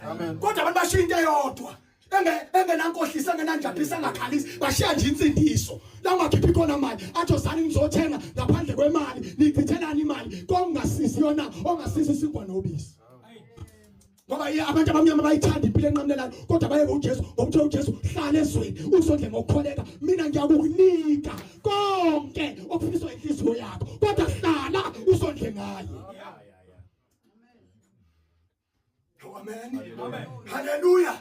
Amen. Kodwa abantu bashiya into eyodwa. Enge engenankohlisa engenanjaphisa angakhalisi bashiya nje insindiso. La ungakhiphi khona mali atho zani ngizothenga ngaphandle kwemali nichithelani imali kongasisi yona ongasisi sinkwa nobisi. Ngoba abantu abamnyama bayithanda impilo enqamlelayo kodwa bayeke uJesu ngokuthe uJesu hlala ezweni usondle ngokukholeka mina ngiyakunika konke okufiniswa inhliziyo yakho kodwa hlala usondle ngaye. haleluya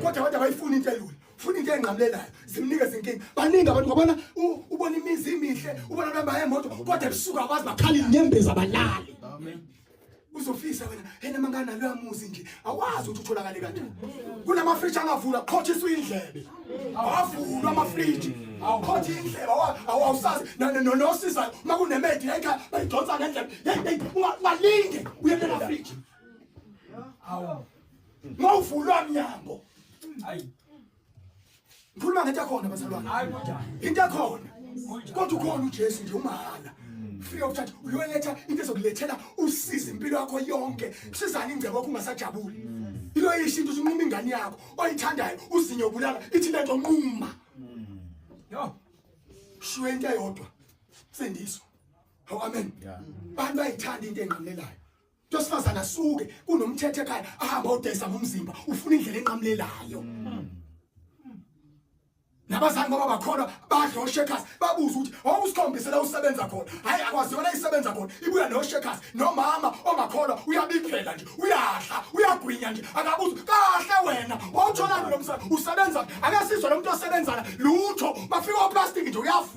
kodwa abantu abayifuni into elula funa into engqamlelayo zimnike zinkinga baningi abantu ngobona ubona imizi imihle ubona abantu abaye moto kodwa ebusuku akwazi bakhala inyembezi abalali uzofisa wena yena mangana loya muzi nje awazi ukuthi utholakale kanjani kunama fridge angavula qhothiswa indlebe awavulwa ama fridge awukhothi indlebe awawusazi nosisa makunemedi yayikha bayidonsa ngendlebe ungalinge uye kula fridge awu mawuvulwa mnyango hayi ngikhuluma ngento yakhona bazalwane hayi kodwa into yakhona kodwa ukhona uJesu nje umahhala free of charge uyoletha into ezokulethela usiza impilo yakho yonke kusizani ingcebo yakho ungasajabuli ilo yisho into usunquma ingane yakho oyithandayo uzinyo bulala ithi lento nquma yo shuwe into eyodwa sindiswa amen abantu bayithanda into engqamlelayo Tosifazana suke kunomthethe ekhaya ahamba odayisa ngomzimba ufuna indlela enqamulelayo. Nabazali ngoba bakhona badla oshekers babuza ukuthi wawusikhombise la usebenza khona. Hayi akwaziwa la isebenza khona. Ibuya no shekers nomama ongakhona uyabiphela nje uyadla uyagwinya nje akabuza kahle wena wawutholani lo msana usebenza akasizwa lo muntu osebenzana lutho bafika oplastic nje uyafu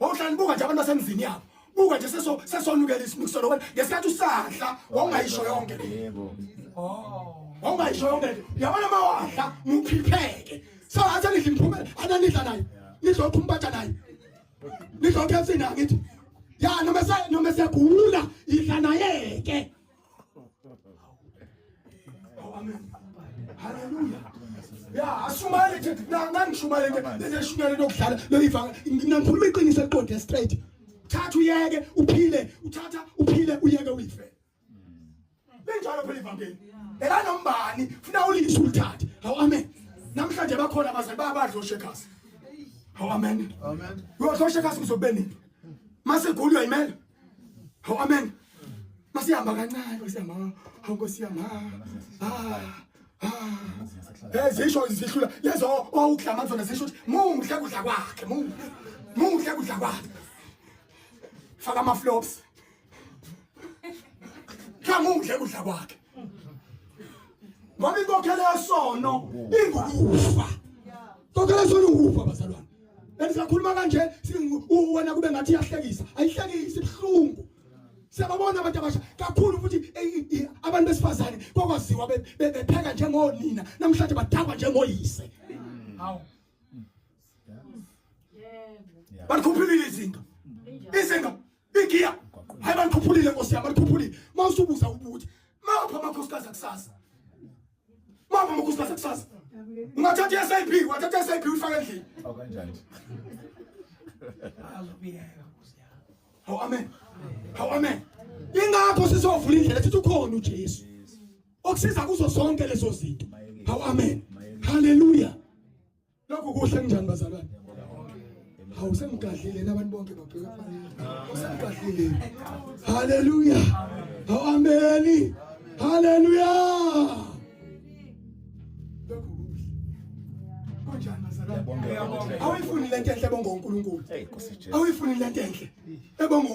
wawuhlala nibuka nje abantu basemzini yabo buka nje seso sesonukela isinukiselo wena ngesikhathi usadla wawungayisho yonke yebo oh wawungayisho yonke nje yabona uma wadla muphipheke so athe nidla imphumela ananidla naye nidla ukhumpatha naye nidla ukhefsi naye ngithi ya noma se noma segula idla naye ke Haleluya. Ya ashumayele nje nanga ngishumayele nje neshumayele lokudlala loyivanga ngikhuluma iqiniso eliqonde straight. Thatha uyeke uphile uthatha uphile uyeke uyife. Benjalo phela ivangeli. Ela nombani funa ulise ulithathe. Hawu amen. Namhlanje bakhona abazali babadlo shekasi. Hawu amen. Amen. Uyodlo shekasi ngizobeni. Mase gulu uyayimela. Oh amen. Masihamba kancane masihamba. Hawu Nkosi yami. Ah. Eh zisho zihlula lezo owuklama oh, zona zisho muhle kudla kwakhe muhle. Muhle kudla kwakhe. Faka ama flops. Cha muhle kudla kwakhe. Ngoba inkokhelo yesono ingukufa. Inkokhelo yesono ingukufa bazalwane. bendisakhuluma kanje wena kube ngathi iyahlekisa ayihlekisi ibuhlungu siyababona abantu abasha kakhulu futhi abantu besifazane kwakwaziwa bepheka njengonina namhlanje badakwa njengoyise hawu balikhuphulile izinga izinga igiya hayi balikhuphulile nkosi yami balikhuphulile mawusubuza ubuthi mapha amakhosikazi akusasa Mama mukuthi base kusasa. Ungathatha SAP, wathatha SAP uyifaka endlini. Awu kanjani? Azobiyeka kuze. Hawu amen. Hawu amen. Ingakho sizovula indlela sithi ukhona uJesu. Okusiza kuzo zonke lezo zinto. Hawu amen. Hallelujah. Lokhu kuhle kunjani bazalwane? Hawu semgadlile nabantu bonke babheka phansi. Usemgadlile. Haleluya. Hawu ameni. Haleluya. Lokhu kuhle. Kunjani bazalwane? Awuyifuni lento enhle bonga uNkulunkulu. Awuyifuni lento enhle. Ebonga